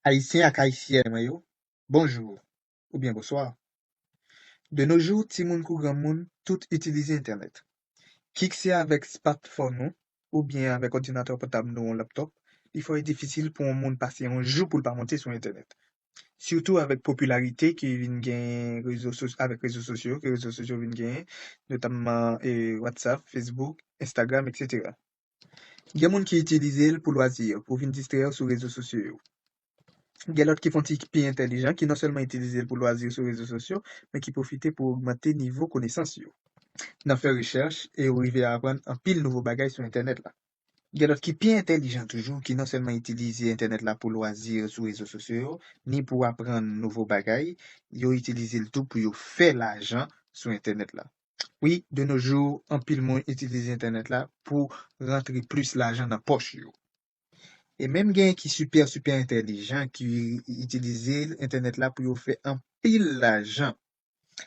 Ayisyen ak Ayisyèn mwen yo, bonjour oubyen boswa. De no jou timoun kou granmoun tout itilize entènèt. Kik se avèk spatfòn ou oubyen avèk òdinatè pòtab nou ou laptòp, li fò e difisil pou on moun pase on jou pou l pa monte sou entènèt. Sitou avèk popilarite ki vin genyen rezo so avèk rezo sosyo ke rezo sosyo vin genyen, notamman e WhatsApp, Facebook, Instagram, eksetera. Gen moun ki itilize l pou lwazi yo, pou vin distrè yo sou rezo sosyo yo. Gen lòt ki fon ti pi entèlijan, ki non sèlman itilize l pou lwazi yo sou rezo sosyo, men ki pwofite pou ogmante nivo konesans yo, nan fè rechèch e yo rive aprann anpil nouvo bagay sou entènèt la. Gen lòt ki pi entèlijan toujou, ki non sèlman itilize entènèt la pou lwazi yo sou rezo sosyo yo, ni pou aprann nouvo bagay, yo itilize l tou pou yo fè lajan sou entènèt la. Wi, de nos jours, anpil moun itilize entènèt la pou rantre plis lajan nan pòch yo. E menm genyen ki sipè sipè entèlijan ki itilize entènèt la pou yo fè anpil lajan.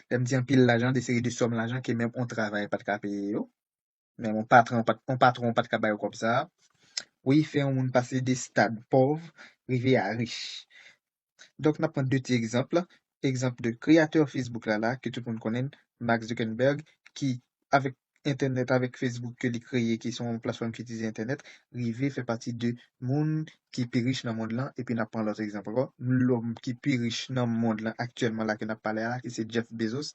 Lè m di anpil lajan, de seri de sòm lajan ke menm on travay pa t ka peye yo. men on patran pat on patron pat ka bay ou kòb sa a wi fè yon moun pase de stad pòv rive a rich donk n ap pran 2 ti egzanp egzanp de kreyatè Facebook la la ke tout moun konnen Mark Zuckerberg ki avèk entènèt avèk Facebook ke li kreye ki se yon platfòm ki itilize entènèt rive fè pati de moun ki pi rich nan mond lan epi n ap pran lòt egzanp ankò lòm ki pi rich nan mond lan aktyèlman la ke n ap pale a la ki se Jeff Bezos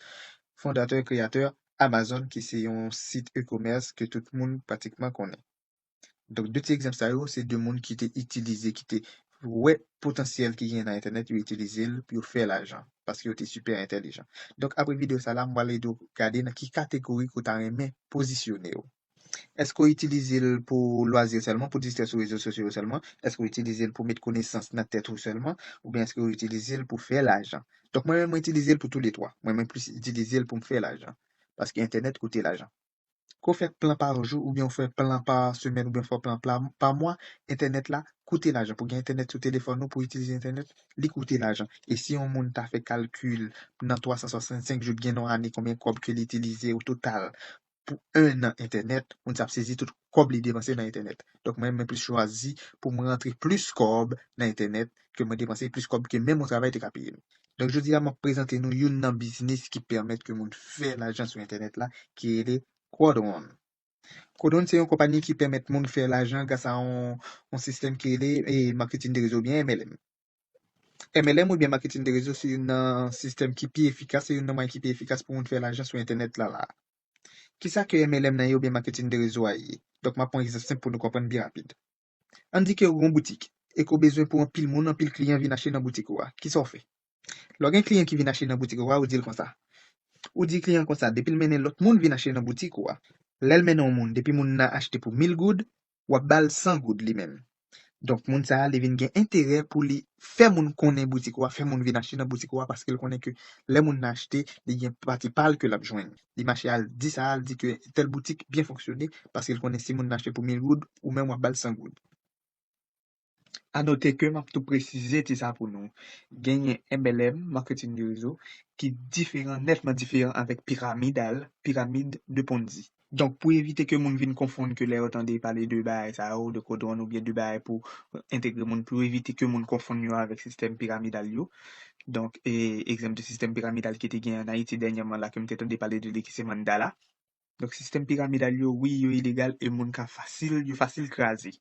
fondatè kreyatè Amazon ki se yon sit e-commerce ke tout moun pratikman konnen. Donk 2 ti egzanp sa yo se 2 moun ki te itilize, ki te wè potansyèl ki genyen nan entènèt yo itilize l pou yo fè lajan paske yo te sipè entèlijan. Donk apre videyo sa la m pral ede w gade nan ki kategori ke w ta renmen pozisyone w. Èske w itilize l pou lwazi w sèlman, pou distrè sou rezo sosyo yo sèlman? Èske w itilize l pou met konesans nan tèt ou sèlman? Oubyen èske w itilize l pou fè lajan? Donk mwen menm mwen itilize l pou tou le twa. Mwen mwen plis itilize l pou m fè lajan. Paske entènèt koute lajan. Ke w fè plan pa jou, oubyen w fè plan pa semèn, oubyen w fè plan pa mwa, entènèt la koute lajan. Pou gen entènèt sou telefòn ou, pou itilize entènèt, li koute lajan. E si yon moun ta fè kalkil nan 365 jou, gen nan yon ane konbyen kòb ke li itilize o total pou 1 nan entènèt, moun sa ap sezi tout kòb li depanse nan entènèt. Donk mwen mwen plis chwazi pou mwen rantre plis kòb nan entènèt ke mwen depanse plis kòb ke menm yon travay te ka peye m. Donk jodi a map prezante nou youn nan biznis ki pèmèt ke moun fè lajan sou entènèt la ki rele Quadron. Quadron se yon konpani ki pèmèt moun fè lajan gras a yon yon sistèm ki rele Marketing de Réseau oubyen MLM. MLM oubyen maketin de rezo se youn nan sistèm ki pi efikas, se youn nan mwayen ki pi efikas pou moun fè lajan sou entènèt la la a. Kisa ke MLM nan ye oubyen maketin de rezo a ye? Donk m ap pran yon egzanp senp pou nou konprann byen rapid. Ann di ke ou gen yon boutik e ke ou bezwen pou anpil moun, anpil kliyan vin achte nan boutik ou a. Kisa ou fè? Lè ou gen kliyan ki vin achte nan boutik ou a, ou di l konsa. Ou di kliyan an konsa, depi l mennen lòt moun vin achte nan boutik ou a. Lè l mennen yon moun, depi moun nan achte pou mil goud, wap bal 100 goud li menm donk moun sa li vin gen enterè pou li fè moun konnen boutik ou a fè moun vin achte nan boutik ou a paskel konnen ke lè moun nan achte li gen pati pal ke lap jwenn li mache al di sa al di ke tèl boutik byen fonksyone paskel konnen si moun nan achte pou 1000 goud ou menm wap bal 100 goud. A note ke map tou presize ti sa pou nou, genyen MLM, Marketing de Réseau, ki diferan, nètman diferan avèk pyramidal, pyramide de Ponzi. Donk pou evite ke moun vin konfonn ke lè yo tande pale de bagay sa yo, de kodwòn oubyen de bagay pou entegre moun, pou evite ke moun konfonn yo avèk sistèm pyramidal yo, donk egzanp de sistèm pyramidal ki te genyen an Ayiti dènyèman la ke m te tande pale de li ki se Mandala. Donk sistèm piramidal yo wi yo ilegal e moun ka fasil yo fasil kraze.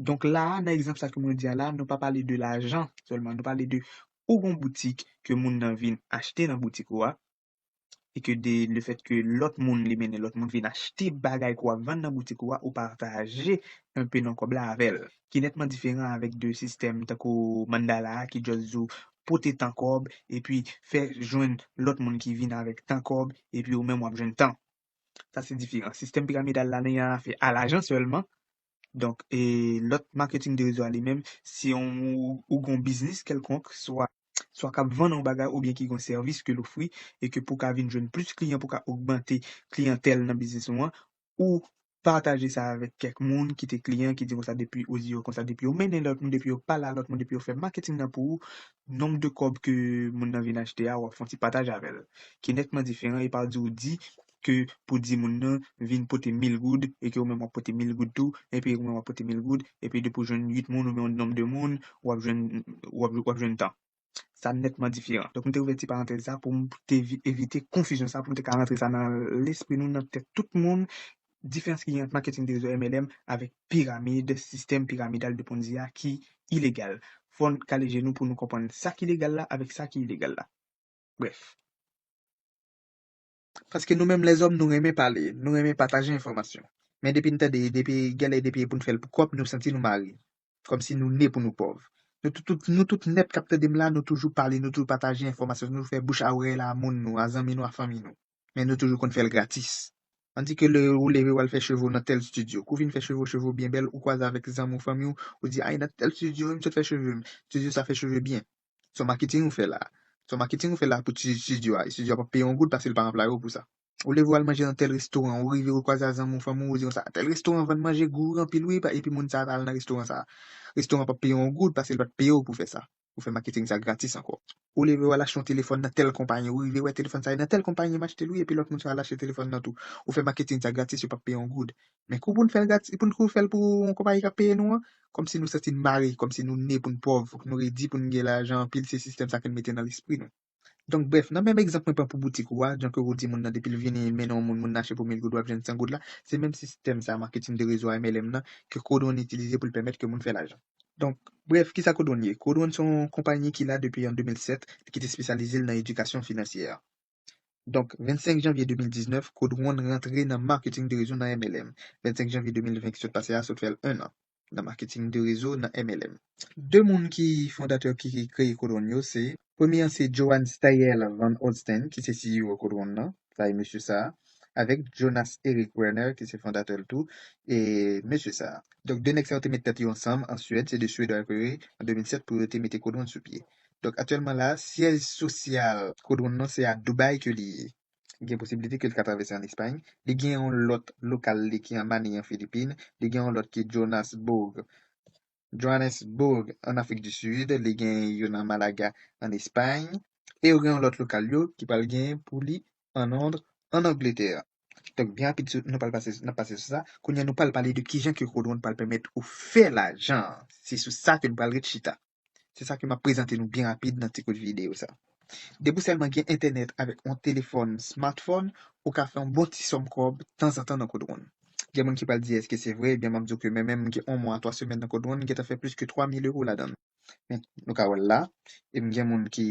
Donk la a nan egzanp sa ke mwen di a la a nou pa pale de lajan sèlman nou pale de ou gon boutik ke moun nan vin achte nan boutik ou a e ke de le fèt ke lòt moun li mennen lòt moun vin achte bagay ke w ap vann nan boutik ou a ou pataje enpe nan kòb la avè l. ki nètman diferan avèk de sistèm tankou Mandala a ki just di w pote tan kòb epi fè jwenn lòt moun ki vin avèk tan kòb epi ou menm w ap jwenn tan. Sa se diferan. Sistèm piramidal la nan yon afè a lajan sèlman. Donk e lòt marketing de rezo a li menm se yon ou gen yon biznis kèlkonk swa swa k ap vann yon bagay oubyen ki gen yon sèvis ke l ofri e ke pou w ka vin jwenn plis kliyan pou w ka ogmante kliyantèl nan biznis ou an ou pataje sa avèk kèk moun ki te kliyan ki di konsa depi ou di yo konsa depi yo mennen lòt moun depi yo pale a lòt moun depi yo fè maketing nan pou ou nonb de kòb ke moun nan vin achte a wap fon ti pataj avèl ki nètman diferan epa w di ou di ke pou di moun nan vin pote mil goud e ke ou menm wap pote mil goud tou epi ou menm wap pote mil goud epi depi ou jwenn 8 moun oubyen yon nonb de moun wap jwenn wap jwenn tan. sa nètman diferan. Donk m te ouvè ti parantèz sa pou m te evite konfizyon sa, pou m te ka rantre sa nan lespri nou, nan tèt tout moun, diferans ki gen ant maketing de rezo MLM avèk piramid, sistèm piramidal de Ponzi a ki ilegal. Fò n kale je nou pou nou konprann sa ki legal la avèk sa ki ilegal la. Brèf. Paske nou menm lèzòm nou renmen pale, nou renmen pataje enfòmasyon. Men depi n tande, depi genlè depi e pou n fè l pou kòb nou santi nou mare. Kòmsi nou ne pou nou pòv. Nou tout tout nou tout nèt k ap tande m la nou toujou pale nou toujou pataje enfòmasyon nou toujou fè bouch a orèy la a moun nou a zanmi nou a fanmi nou. Men nou toujou konn fè l gratis. An di ke lè ou leve w al fè cheve w nan tèl stidyo. Kou w fin fè cheve w cheve w byen bèl ou kwaze avèk zanmi w fanmi w ou di a e nan tèl stidyo wi m sot fè cheve m. Stidyo sa fè cheve byen. Son marketing ou fè la. Son marketing ou fè la pou ti studio a. Studio a pap peye yon goud paske li pa anplaye w pou sa. Ou leve w al manje nan tel restoran, ou rive ou kwaze a zanmi w, fanmi w, ou di konsa, tel restoran vann manje gou anpil wi pa epi moun sa ta al nan restoran sa. Restoran pap peye w yon goud paske li pat peye w pou fè sa. Ou fè marketing sa gratis ankò. Ou leve w al achte yon telefòn nan tel konpayi, ou rive wè telefòn sa e nan tel konpayi m achte l wi epi lòt moun sa al achte telefòn nan tou. Ou fè marketing sa gratis yo pap peye w yon goud. Men kou pou n fè l gratis, pou n kou fè l pou yon konpayi k ap peye nou an, kòmsi nou santi n mare, kòmsi nou ne pou n pòv, pou nou redi, pou n gen lajan anpil, se sistèm sa ke n mete nan lespri nou. Donk brèf, nan menm egzanp mwen pran pou boutik ou a, jan ke ou di moun nan depi l vini mennen yon moun, moun nan achte pou mil goud w ap jwenn san goud la, se menm sistèm sa, marketing de réseau a MLM nan, ke Code One itilize pou l pèmèt ke moun fè lajan. Donk brèf, kisa Code One ye? Code One se yon konpayi ki la depi an 2007, ki te espesyalize l nan edikasyon finansyè. Donk, 25 janvye 2019, Kod Wonn rantre nan Marketing de Rezo nan MLM. 25 janvye 2020 ki sot pase a sot fè l 1 an nan Marketing de Rezo nan MLM. 2 moun ki fondatè ki kreye Kod Wonn yo se. Premye an se Johan Steyerl Van Olsten ki se CEO Kod Wonn nan, sa e mesye sa a, avèk Jonas Erik Werner ki se fondatè l tou, e mesye sa a. Donk, 2 nèg sa yo te met tèt yo ansanm an Suèd, se 2 Suedwa yo te rele an 2007 pou yo te mete Kod Wonn sou pye. Donk aktyèlman la, syèj sosyal Kodron nan se a Dubai ke li ye. Gen posibilite ke li ka travèse an Espay. Li gen yon lòt lokal li ki an Manille an Filipin. Li gen yon lòt ki Jonasbourg, Johannesburg, an Afrik di Sid. Li gen yo nan Malaga an Espay. E yo gen yon lòt lokal yo ki pral gen pou li an Lond an Angletè. Donk byen rapid sou, nou pral pase, n ap pase sou sa. Kounye a nou pral pale de kijan ke Kodron pral pèmèt ou fè lajan an. Se sou sa ke nou pral ret chita. Se sa ke m ap prezante nou byen rapid nan ti kout videyo sa. Depi w sèlman gen entènèt avèk yon telefòn smartphone, ou ka fè yon bon ti sòm kòb tanzantan nan Kodwon. Gen moun ki pral di èske se vre, ebyen m ap di w ke mwen menm m gen yon mwa a twa semèn nan Kodwon, m gentan fè plis ke 3 mil ewo ladan l. Men, nou ka wè l la, e m gen moun ki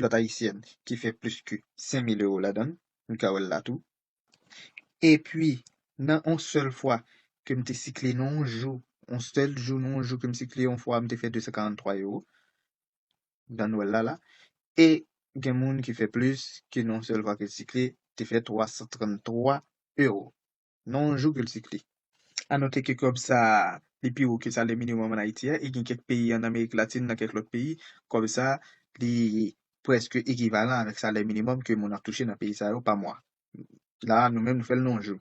lòt ayisyèn ki fè plis ke 5000 euro ladan l, nou ka wè l la tou. Epi nan on sèl fwa ke m te sikle nan on jou, on sèl jou nan on jou ke m sikle on fwa m te fè 243 euro nan nwèl la la. E gen moun ki fè plis ke nan on sèl fwa ke l sikle te fè 333 euro. nan yon jou kilti kle. A note ke kòb sa a, li pi wo ke salè minimòm an Ayiti a e gen kèk peyi an Amerik Latin nan kèk lòt peyi, kòb sa a, li prèske ekivalan avèk salè minimòm ke moun ap touche nan peyi sa yo pa mwa. La a, nou menm nou fè l nan yon jou.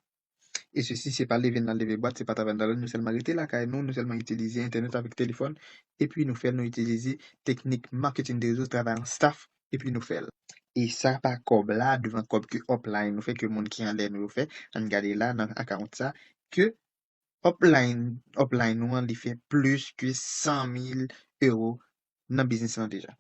E sesi se pa leve nan leve bwat, se pa travay nan travay, nou sèlman rete lakay nou, nou sèlman itilize entènèt avèk telefòn, epi nou fè l nou itilize teknik marketing de rezo, travay an staff epi nou fèl. E sa pa kòb la devan kòb ke upline nou fè ke moun ki anlè nou yo fè ann gade la nan account sa ke upline upline nou an li fè plis ke 100 mil euro nan biznis lan deja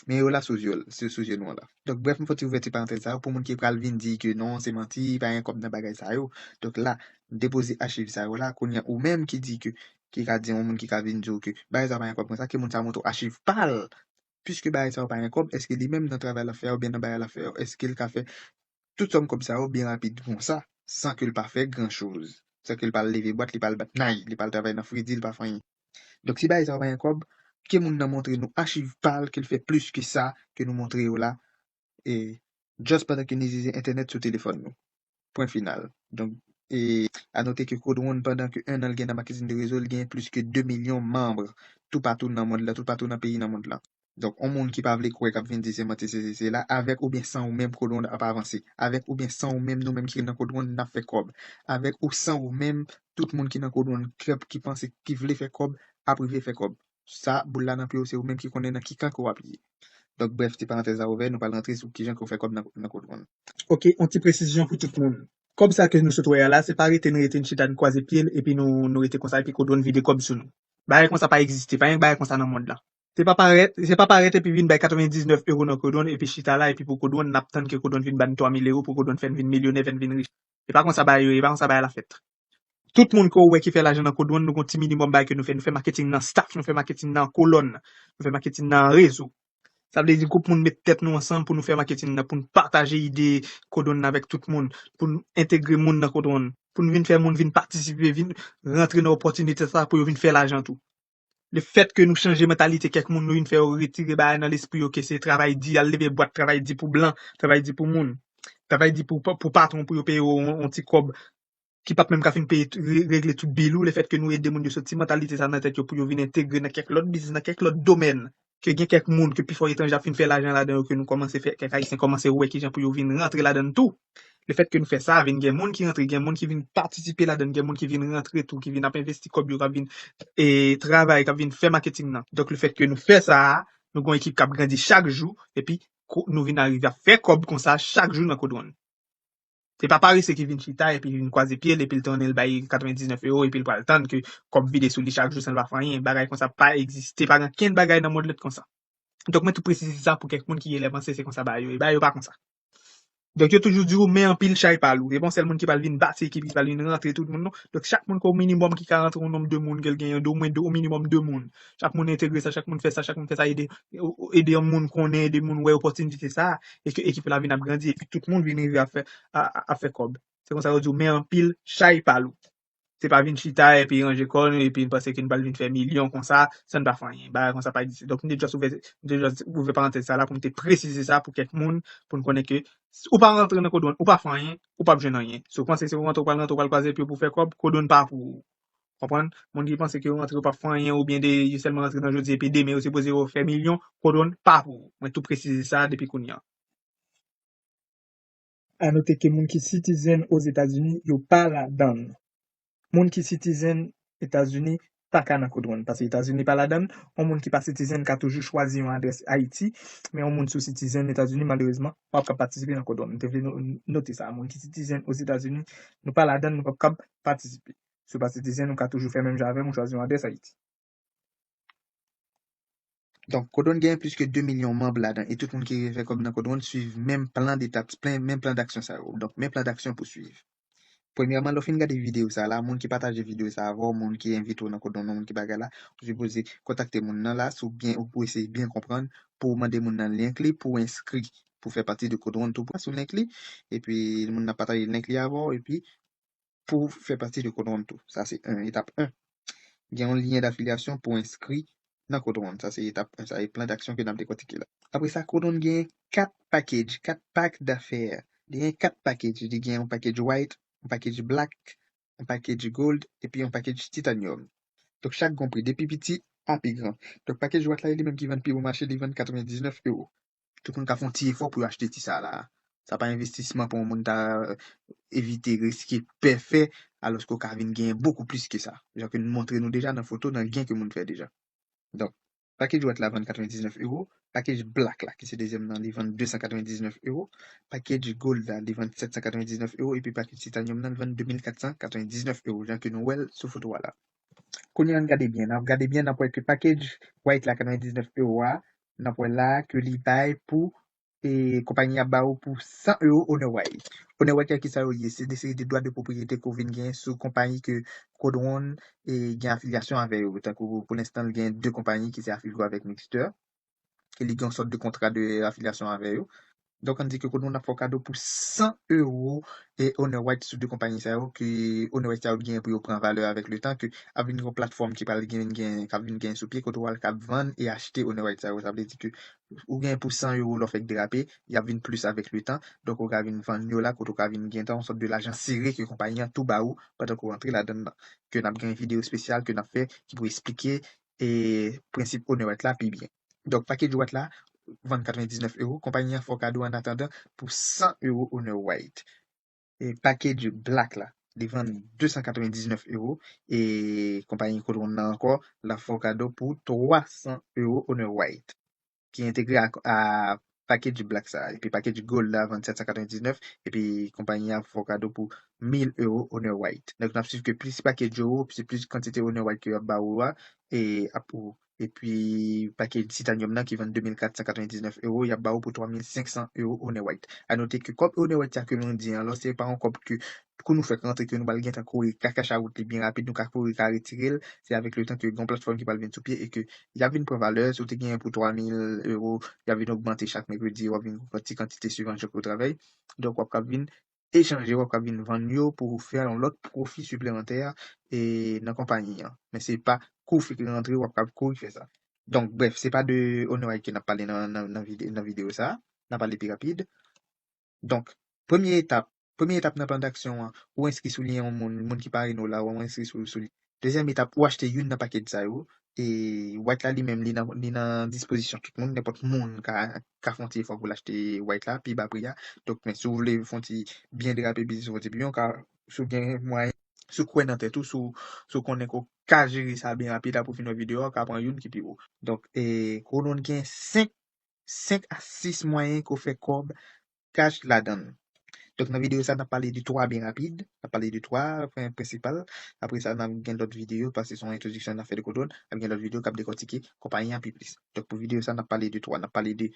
men yo la sou zye sou zye nou an la donk brèf m fè ti ouvèti parantèz sa yo pou moun ki pral vin di ke non se manti pa gen kòb nan bagay sa yo donk la m depoze achiv sa yo la kounye a ou menm ki di ke ki ka di yon moun ki ka vin di w ke bagay sa yo pa gen kòb konsa ke moun sa montre w achiv pa l Piske bagay sa yo pa gen kòb, èske li menm nan travay l ap fè a oubyen nan bagay l ap fè yo, èske l ka fè tout sòm kòb sa yo byen rapid konsa san ke l pa fè gran choz, san ke l pa al leve bwat, li pa al bat nay, li pa al travay nan fredi, li pa fè anyen? Donk, si bagay sa yo pa gen kòb, ke moun nan montre nou achiv pa l ke l fè plis ke sa ke nou montre yo la e just pandan ke n izize entènèt sou telefòn nou. Pwen final. Donk, e a note ke Codewon pandan ke 1 an l gen nan maketin de rezo l gen plis ke 2 milyon manm toupatou nan mond lan, toupatou nan peyi nan mond lan. Donk, on moun ki pa vle kwè k ap vin di se manti se si se la, avèk oubyen san ou menm Codewon ap avanse. Avèk oubyen san ou menm nou menm ki nan Codewon n ap fè kòb. Avèk ou san ou menm tout moun ki nan Codewon k ap ki panse ki vle fè kòb ap rive fè kòb. sa boul la nan pye w se ou menm ki konnen nan ki kan ke w ap ye. Donk brèf ti parantèz la ouvè nou pral rantre sou kijan ke w fè kòb nan kont moun. Ok on ti presizyon pou tout moun kòb sa ke nou sot wè a la se pa rete n rete n chita n kwaze pye l epi nou nou rete konsa epi kodo n vide kòb sou nou bagay konsa pa egziste pa gen bagay konsa nan mond lan se pa parèt se pa parèt epi vin bay 99 euro nan kodo n epi chita la epi pou kodo n n ap tann ke kodo n vin ba n 3000 euro pou kodo n fè n vin milyonè fè n vin rich se pa konsa bagay yo ye e pa konsa bagay la fèt. Tout moun ke ou wè ki fè lajan nan kod wan nou gon ti minimum bagay ke nou fè. Nou fè marketing nan staff, nou fè marketing nan kolòn, nou fè marketing nan rezo. Sa vle di group moun met tèt nou ansanm pou nou fè marketing nan, pou nou pataje ide kod wan nan avèk tout moun, pou nou entegre moun nan kod wan, pou nou vin fè moun vin patisipe, vin rantre nan opportunité sa pou yo vin fè lajan tou. Le fèt ke nou chanje mantalite kèk moun nou vin fè yo retire bagay nan lespri yo ke se travay di, al leve bwat travay di pou blan, travay di pou moun, travay di pou pou patwon pou yo peye w yon ti kòb ki pap menm ka fin peye regle tout bil ou, le fèt ke nou ede moun yo soti mantalite sa nan tèt yo pou yo vin entegre nan kèk lòt biznis, nan kèk lòt domèn. ke gen kèk moun, ke pifò etranje ap fin fè lajan ladan yo, ke nou kòmanse fè, kèk Ayisyen kòmanse wè kijan pou yo vin rantre ladan l tou. Lefèt ke nou fè sa, vin gen moun ki rantre, gen moun ki vin patisipe ladan l, gen moun ki vin rantre tou, ki vin ap envesti kòb yo, k ap vin travay, k ap vin fè maketing nan. Donk lefèt ke nou fè sa, nou gen yon ekip k ap grandi chak jou, epi nou vin arive ap fè kòb konsa chak jou nan Kodwon. Se pa parese ki vin chita epi vin kwaze pye l epi l tounen l bay 99 ewo epi l pral tann ke kòb vide sou li chak jou san l pa fè anyen. Bagay konsa pa egziste, pa gen okenn bagay nan mond lan ki konsa. Donk mwen tou presize sa pou kèk moun ki genlè panse se konsa bagay yo ye. Bagay yo pa konsa. Donk yo toujou di ou men anpil chay pa lou. Se pa yon sèl moun ki pral vin bati ekip, ki pral vin rantre tout moun non. Donk chak moun ke o minimòm ki ka rantre yon nonb de moun ke l genyen, de omwen de, o minimòm de moun. chak moun entegre sa, chak moun fè sa, chak moun fè sa, ede ede yon moun konnen, ede moun wè opòtinite sa, e ke ekip la vin ap grandi, epi tout moun vin rive ap fè ap fè kòb. Se konsa yo di w men anpil, chay pa lou. Se pa vin chita epi ranje kò nou epi n panse ke n pral vin fè milyon konsa san n pa fè anyen. Bagay konsa pa egziste. Donk m te just ouvè m te just ouvè parantèz sa la pou m te presize sa pou kèk moun pou n konnen ke si ou pa rantre nan Codeone ou pa fè anyen, ou p ap jwenn anyen. Si w panse se pou w rantre ou pral rantre ou pral kwaze pye w pou w fè kòb, Codeone pa pou ou. Konprann? Moun ki panse ke yo rantre yo pap fè anyen oubyen de yo sèlman rantre nan jodi epi demen yo sipoze yo fè milyon, Kodon pa pou ou. Mwen tou presize sa depi kounye an. A note ke moun ki sitizen Ozetazini yo pa ladann. Moun ki sitizen Etazini pa ka nan Kodon pase Etazini pa ladann. Yon moun ki pa sitizen ka toujou chwazi yon adrès Ayiti, men yon moun si w sitizen Etazini malerezman pap kab patisipe nan Kodon. M te vle nou note sa. Moun ki sitizen Ozetazini nou pa ladann nou pap kab patisipe. Si w pa sitizyen, nou ka toujou fè menm jan avè m, ou chwazi yon adrès Ayiti. Donk, Kodwon genyen plis ke 2 milyon manb ladan e tout moun ki vle fè kòb nan Kodwon swiv menm plan detap, menm plan daksyon sa yo. Donk, menm plan daksyon pou swiv. Premyèman, lè w fin gade videyo sa a la, moun ki pataje videyo sa a avè w, moun ki envite w nan Kodwon nan, moun ki bagay la, ou sipoze kontakte moun nan la sou byen ou pou eseye byen konprann pou w mande moun nan link li pou w enskri pou w fè pati de Kodwon tou pran sou link li epi moun nan pataje link li avè w epi pou fè pati de Kodwonn tou. Sa se 1, etap 1. Gen yon lyen dafilyasyon pou enskri nan Kodwonn. Sa se etap 1. Sa e plan daksyon ke n ap dekòtike la. Apre sa, Kodwonn genyen 4 pakedj, 4 pak dafè. Li genyen 4 pakedj. Li gen yon pakedj White, yon pakedj Black, yon pakedj Gold epi yon pakedj Titanium. Donk chak gen yon pri, de pi piti a pi gran. Donk pakedj White la e li menm ki vann pi bon mache, li vann 99 ewo. tout moun ka fon ti efò pou yo achte ti sa la. Sa pa envestisman pou yon moun ta evite riske pè fè alòske ou ka vin genyen bokou plis ke sa. Jan ke nou montre nou deja nan foto nan gen ke moun fè deja. Donk, pakej wayt la vann 99 euro, pakej blak la ki se dezyèm nan li vann 299 euro, pakej gold la li vann 799 euro epi pakej titanyòm nan li vann 2499 euro jan ke nou wè l sou foto a la. Kounye an n gade byen, nan ap gade byen n ap wè ke pakej wayt la 99 euro a n ap wè la a ke li bay pou e konpayi a ba ou pou 100 ewo onè way. Onè way kè ki sa yo ye? Se de seri de dwa de pwopriyete ke w vin gen sou konpayi ke Kodwon e gen afilyasyon avè yo. Tankou pou lenstan li gen 2 konpayi ki se Afilgo avèk Mixter ke li gen yon sòt de kontra de afilyasyon avè yo. Donk an di ke kote moun ap fè w kado pou 100 euro e owner rights sou 2 konpayi sa yo ke owner rights sa yo gen pou yo pran valè avèk le tan ke ap vin gen yon platfòm ki pral vin gen k ap vin gen sou pye kote w al kab vann e achte owner rights sa yo sa vle di ke ou gen pou 100 euro lè w fèk derape y ap vin plis avèk le tan donk ou ka vin vann yo la kote ou ka vin gentan yon sòt de lajan sere ke konpayi an tou ba ou pandan ke w antre ladann nan ke n ap gen videyo espesyal ke n ap fè ki pou esplike e prensip owner rights la pi byen. Donk pakej White la vann 99 euro, konpayi an fè w kado annatandan pou 100 euro Honor White. E pakej Black la, li vann 299 euro e konpayi Cotron nan ankò l ap fè w kado pou 300 euro Honor White ki entegre a package black sa epi package gold la vann 799 epi konpayi a fè w kado pou 1000 euro owner white donk nap swiv ke plis package yo ou se plis kantite owner white ke yo ap ba ou a e ap ou epi package titanium nan ki vann 2499 euro yap ba ou pou 3500 euro owner white a note ke kòb owner white sa ke nou di an lò se pa yon kòb ke kou nou fèk rantre ke nou pral gentan kore ka cash out li byen rapid nou ka kore ka retirel se avèk le tan ke gon platfòm ki pral vin sou pye e ke yap vin pran valè si w te genyen pou 3000 euro yap vin ogmante chak mèkredi wap vin pran ti kantite suivan jan ke w travay donk wap kap vin echanje wap kap vin vann yo pou w fè yon lòt pwofi siplemantè e nan konpayi an men se pa kou w fèk rantre wap kap kouri fè sa donk brèf se pa de OwnerIQ nap pale nan nan videyo sa nap ale pi rapid. Donk, premye etap, premye etap nan plan daksyon an, ou enskri sou li yon moun, moun ki parene w la, ou enskri sou ou sou li. Dezyèm etap, ou achte youn nan pakèt sa yo, e white la li menm li nan li nan dispozisyon tout moun, nenpòt moun ka ka fè yon ti efò pou l achte white la pi ba pri a. Donk, men si w vle fè yon ti byen drape biznis ou, fè yon ti byen, ou ka, si w gen mwayen, si w kwè nan tèt ou, si w si w konnen ke w ka jere sa byen rapid apre w fin wè videyo a, ou ka pran youn ki pi wo. Donk, e kowono n gen 5 5 a 6 mwayen ke w fè kòb kach ladan l. Donk nan videyo sa a n ap pale de 3 byen rapid, n ap pale de 3 pwen prensipal, apre sa n ap gen lòt videyo paske se yon entwodiksyon n ap fè de kote w, n ap gen lòt videyo k ap dekòtike konpayi an pi plis. Donk pou videyo sa a n ap pale de 3, n ap pale de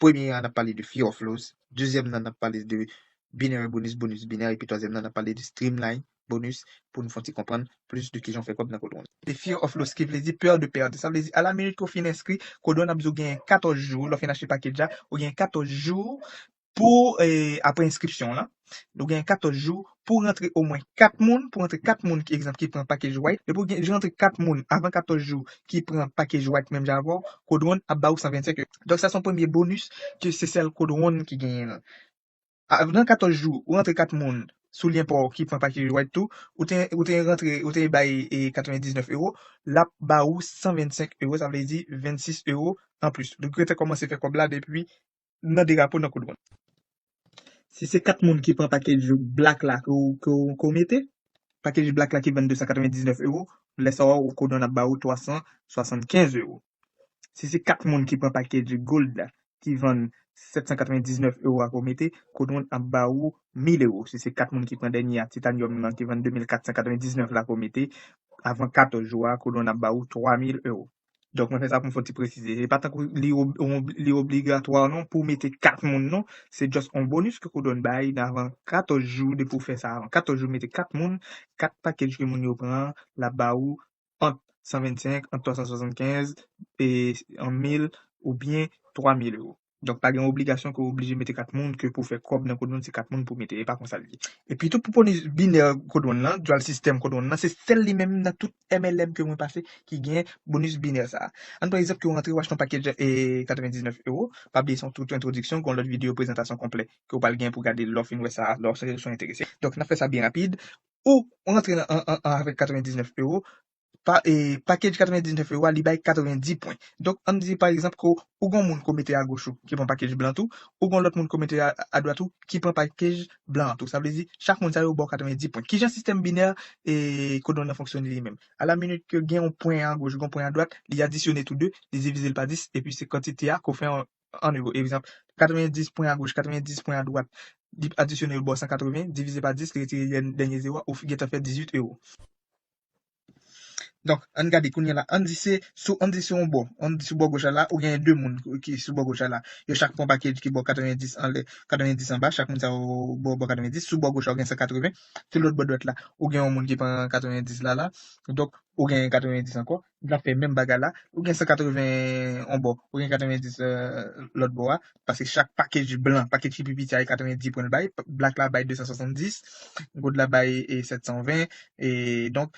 premye an n ap pale de Few of Loss, dezyèm nan n ap pale de Binary Bonus, Bonus Binary, epi twazyèm nan n ap pale de Streamline, bonus pou nou fon ti konprann plis de kijan w fè kòb nan Codwon. The Fear of Loss ki vle di peur de perdre sa vle di ala minit ke w fin enskri Codwon ap di w genyen 14 jou lè w fin achte package a ou genyen 14 jou pou aprè enskripsyon w lan ou genyen 14 jou pou rantre omwen 4 moun pou rantre 4 moun ki egzanp ki pran package white depi w rantre 4 moun avan 14 jou ki pran package white menm jan avè w Codwon ap ba ou 125 donk sa son premye bonus ke se sèl Codwon ki genyen l. Nan 14 jou ou rantre 4 moun sou lyen paw ki pran package white tou ou te ou te rantre ou te bay 99 euro lap ba ou 125 euro sa vle di 26 euro anplis ou gentan komanse fè kob la depi nan derapo nan koudwonn. Si se 4 moun ki pran package black la ke ou ke ou ke ou mete package black la ki vann 299 euro lè sa ou koudwonn ap ba ou 375 euro. Si se 4 moun ki pran pakedj Gold la ki vann 799 ewo ak ou mete, Codon ap ba ou 1000 ewo. Si se 4 moun ki pran dènye a, Titanium lan ki vann 2499 la ak ou mete, avan 14 jou a, Codon ap ba ou 3000 ewo. Donk mwen fè sa pou m fè yon ti presize. Se pa tankou li obligatwa non pou w mete 4 moun non. Se just yon bonus ke Codon bay nan avan 14 jou depi w fè sa avan 14 jou mete 4 moun, 4 pakedj ke moun yo pran an, l ap ba ou ant 125, ant 375, e 1 mil ou byen 3 mil ewo. Donk pa gen obligasyon ke w oblije mete kat moun ke pou fè kòb nan Codewon se kat moun pou mete, e pa konsa l ye. Epi tou pou pwone binè Codewon lan, dual system Codewon lan, se sèl li menm nan tout MLM ke mwen pase ki gen bonus binè sa a. An pran egzanp ke w rantre w achte yon pakej 99 ewo, pa bliye se yon tout entwodiksyon, gen yon lòt videyo prezantasyon konplè ke w pral gen pou gade lè w fin wè sa a, lè w enterese. Donk n ap fè sa byen rapid. ou rantre nan an an avèk 99 ewo, pa e package 99 ewo a li bay 90 pwen. Donk ann di pa egzanp ke ou gon moun ke w mete agoch ou ki pran package blan tou, ou gon lòt moun ke w mete adwat ou ki pran package blan an tou. Sa vle di chak moun sa yo ba w 90 pwen. Kijan sistèm binè e code one nan fonksyone li menm? A la minit ke gen yon pwen agoch, gen yon pwen adwat, li adisyone tou 2, li divize l pa 10 epi se kantite a ke w fè 1 euro. Egzanp, 90 pwen agoch, 90 pwen adwat, li adisyone yo ba w 180, divize pa 10, li retire dènye zewo a, ou gentan fè 18 euro. Donk, an n gade kounye a la, an n di se sou, an n di se yon bò, an n di sou bò goch la la, ou genyen 2 moun ki sou bò goch la la. Yo chak pran yon pakej ki ba w 90 anlè, 90 anba, chak moun sa yo ba w 90. Sou bò goch la, ou gen 180. Sou lòt bò dwat la, ou gen yon moun ki pran 90 la la. Donk, ou genyen 90 ankò. Li ap fè menm bagay la. Ou gen 180 on bò, ou gen 90 lòt bò a, paske chak package blan, package ki pi piti a e 90 pwen l bay, black la bay 270, gold la bay 720, e donk,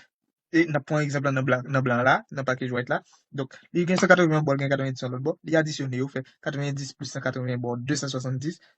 e n ap pran egzanp lan nan blan an la, nan package white la, donk li gen 180 bò l gen 90 yon lòt bò, li adisyone yo fè 90 plis 180 ba w 270,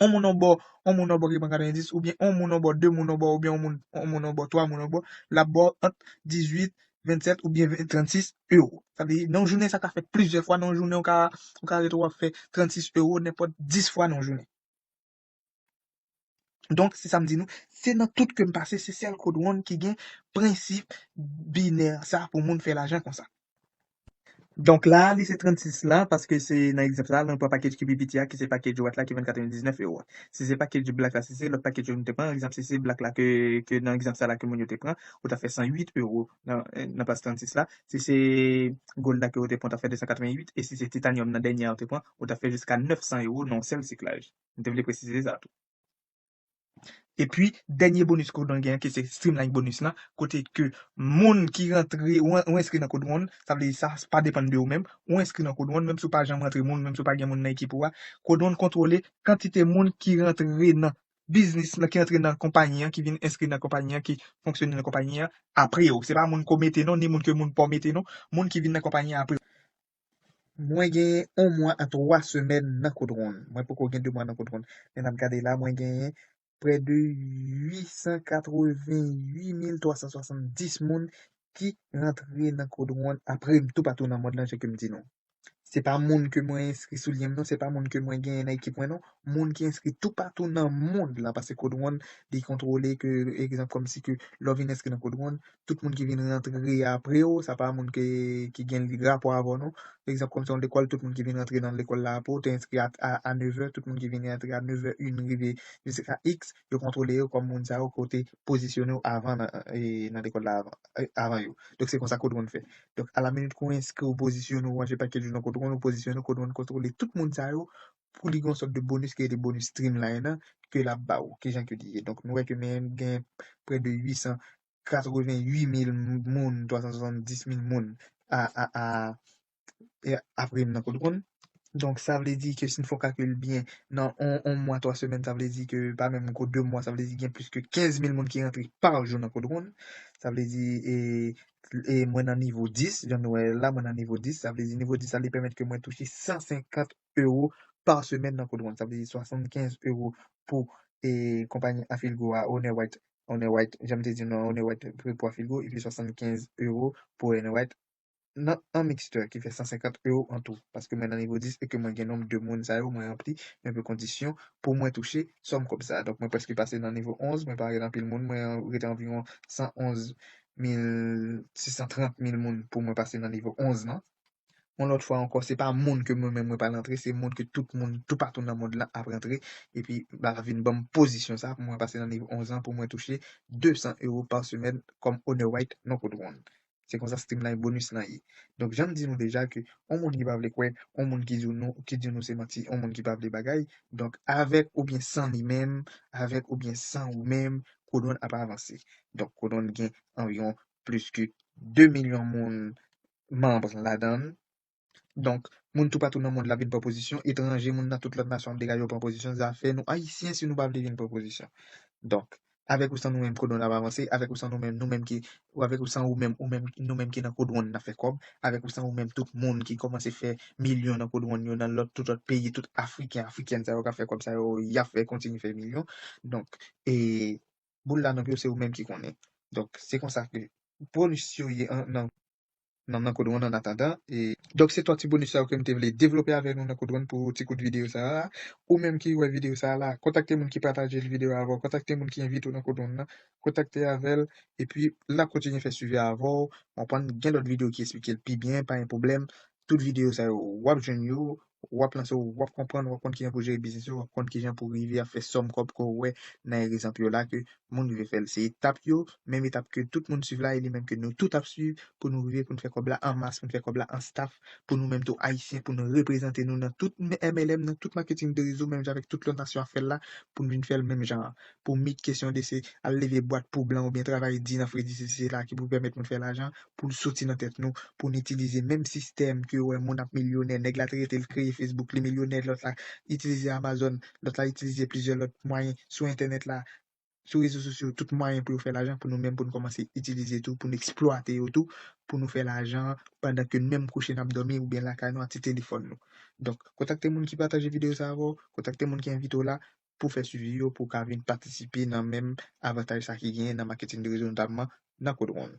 on moun on bò, on moun on bò ki pran 90, oubyen on moun on bò, 2 moun on bò, oubyen on moun, on moun on bò, 3 moun on bò, l ap ba w ant 18, 27 oubyen 20, 36 ewo. Sa vle di, nan yon jounen sa ka fèt plizyè fwa nan yon jounen, ou ka, ou ka rete w ap fè 36 ewo nenpòt 10 fwa nan yon jounen. Donk, se sa m di nou, se nan tout ke m pase, se sèl Code One ki gen prensip binè sa pou moun fè lajan konsa. Donk la li se 36 la paske se nan egzanp sa a lè nou pran pakej ki pi piti a ki se pakej White la ki vann 99 euro a. Si se pakej Black la si se lòt pakej yo nou te pran egzanp si se Black la ke ke nan egzanp sa la ke moun yo te pran ou ta fè 108 euro nan nan plas 36 la si se Gold la ke ou te pran ou ta fè 288 e si se Titanium nan dènye a ou te pran ou ta fè jiska 900 euro nan yon sèl siklaj. M te vle presize sa tou. Epi dènye bonus ke w dwe gen an ki se streamline bonus lan kote ke moun ki rantre ou enskri nan code one sa vle di sa pa depann de ou menm ou enskri nan code one menm si w pa janm rantre moun menm si w pa gen moun nan ekip ou a code one kontwole kantite moun ki rantre nan biznis lan ki rantre nan konpayi an ki vin enskri nan konpayi an ki fonksyone nan konpayi an apre w se pa moun ke w mete non ni moun ke moun pa w mete non moun ki vin nan konpayi an apre w. Mwen genyen 1 mwa a 3 semèn nan kout ronn. Mwen poko gen 2 mwa nan kout ronn. Men n ap gade la, mwen genyen prè de 888370 moun ki rantre nan kout ronn apre m toupatou nan mond lan jan ke m di nou. Se pa moun ke mwen enskri sou lyen m non, se pa moun ke mwen genyen nan ekip mwen non, moun ki enskri toupatou nan mond lan paske kout ronn li kontwole ke egzanp kòmsi ke lè w vin enskri nan kout ronn, tout moun ki vin rantre apre ou, sa pa moun ke, ki gen rapò avè w non. Fè egzanp kòm se yon lekòl, tout moun ki vin rantre nan lekòl la apre ou, te enskri a a nevè, tout moun ki vin rantre a nevè in rive jiska iks, yo kontwole yo kòm moun sa yo ke w te pozisyone w avan nan nan lekòl la avan avan yo. Donk se konsa Code One fè. Donk a la minit ke w enskri ou pozisyone w ranje pakèt jou nan Code One ou pozisyone w, Code One kontwole tout moun sa yo pou li gen yon sòt de bonus ki rele bonus streamline an ke lap ba ou. Kijan ke li ye? Donk nou wè ke men gen prè de 888 mil moun, 370 mil moun a a a apre m nan kote konn. Donk sa vle di ke si n fè yon kalkil byen nan on on mwa 3 semèn sa vle di ke pa menm ko 2 mwa sa vle di gen plis ke 15 mil moun ki rantre pa jou nan kote konn. Sa vle di e e mwen nan nivo 10 jan nou wè la mwen nan nivo 10 sa vle di nivo 10 sa li pèmèt ke mwen touche 150 ewo pa semèn nan Kodwon. Sa vle di 75 ewo pou konpayi Afilgo a, One White, One White, jan m te di nou an, One White pou Afilgo, epi 75 ewo pou One White nan an mixte ki fè 150 ewo an tou. Paske mwen nan nivo 10 e ke mwen gen nonb de moun sa yo, mwen ranpli yon pe kondisyon pou mwen touche sòm kòb sa a. Donk mwen prèske pase nan nivo 11, mwen pa rete anpil moun, mwen rete anviwon 111 mil, 630 mil moun pou mwen pase nan nivo 11 lan. yon lòt fwa ankò se pa moun ke mwen menm mwen pral rantre se moun ke tout moun toupatou nan mond lan ap rantre epi bala vin banm pozisyon sa pou mwen pase nan nivo 11 lan pou mwen touche 200 euro par semaine kòm owner white non kout wonn se konsa streamline bonus lan ye donk janm di nou deja ke yon moun ki pa vle kwè yon moun ki di w nou ki di nou se manti yon moun ki pa vle bagay donk avèk oubyen san li menm avèk oubyen san ou menm kout wonn ap avanse donk kout wonn gen anviwon plis ke 2 milyon moun manbre ladan l. Donk, moun toupatou nan mond la ap vin pran pozisyon, etranje, moun nan tout lòt nasyon ap degaje yo pran pozisyon, zafè nou Ayisyen si nou pa vle vin pran pozisyon. Donk, avèk ou san nou menm kodwon n ap avanse, avèk ou san nou menm, nou menm ki, ou avèk ou san ou menm, ou menm, nou menm ki nan kodwon n ap fè kòb, avèk ou san ou menm tout moun ki kòmanse fè milyon nan kodwon n yo nan lòt tout lòt peyi, tout Afriken, Afrikèn sa yo k ap fè kòb sa yo, y ap fè kontinye fè milyon. Donk, e. boul la nan pye w se ou menm ki konnen donk se konsa ke bonus yo ye nan nan Code One an atandan e. Donk se 3 ti bonus sa yo ke m te vle devlope avèk nou nan Code One pou ti kout videyo sa a ou menm ki wè videyo sa a la kontakte moun ki pataje videyo a avè w kontakte moun ki envite w nan Code One nan kontakte avè l epi l ap kontinye fè swivi a avè w konprann gen lòt videyo ki esplike l pi byen pa gen pwoblèm tout videyo sa yo w ap jwenn yo w ap lanse w, w ap konprann, w ap konn kijan pou jere biznis yo, w ap konn kijan pou rive ap fè sòm kòb ke w wè nan erizanp yo la ke moun rive fè l. Se etap yo, menm etap ke tout moun swiv la e li menm ke nou tout ap swiv pou nou rive pou n fè kòb la an mas, pou n fè kòb la an staf, pou nou menm tou Ayisyen pou n reprezante nou nan tout MLM, nan tout maketing de rezo menm jan avèk tout lòt nasyon ap fè l la pou n vin fè l menm jan an. pou mit kesyon de se al leve bwat pou blan oubyen travay di nan fredi sesi sela ki pou pèmèt moun fè lajan pou n soti nan tèt nou pou n itilize menm sistèm ke wè moun ap milyonè nèg la te rete l kreye fesbouk li milyonè lòt la itilize amazon lòt la itilize plizyè lòt mwayen sou entènèt la sou rezo sosyo tout mwayen pou yo fè lajan pou nou menm pou n kòmanse itilize tou pou n eksplwate yo tou pou nou fè lajan pandan ke n menm kouche n ap dòmi oubyen lakay nou ak ti telefòn nou donk kontakte moun ki pataje videyo sa avè w kontakte moun ki envite w la pou fè swivi yo pou w ka vin patisipe nan menm avantaj sa ki genyen nan maketin de rezo notamman nan Code Ronde.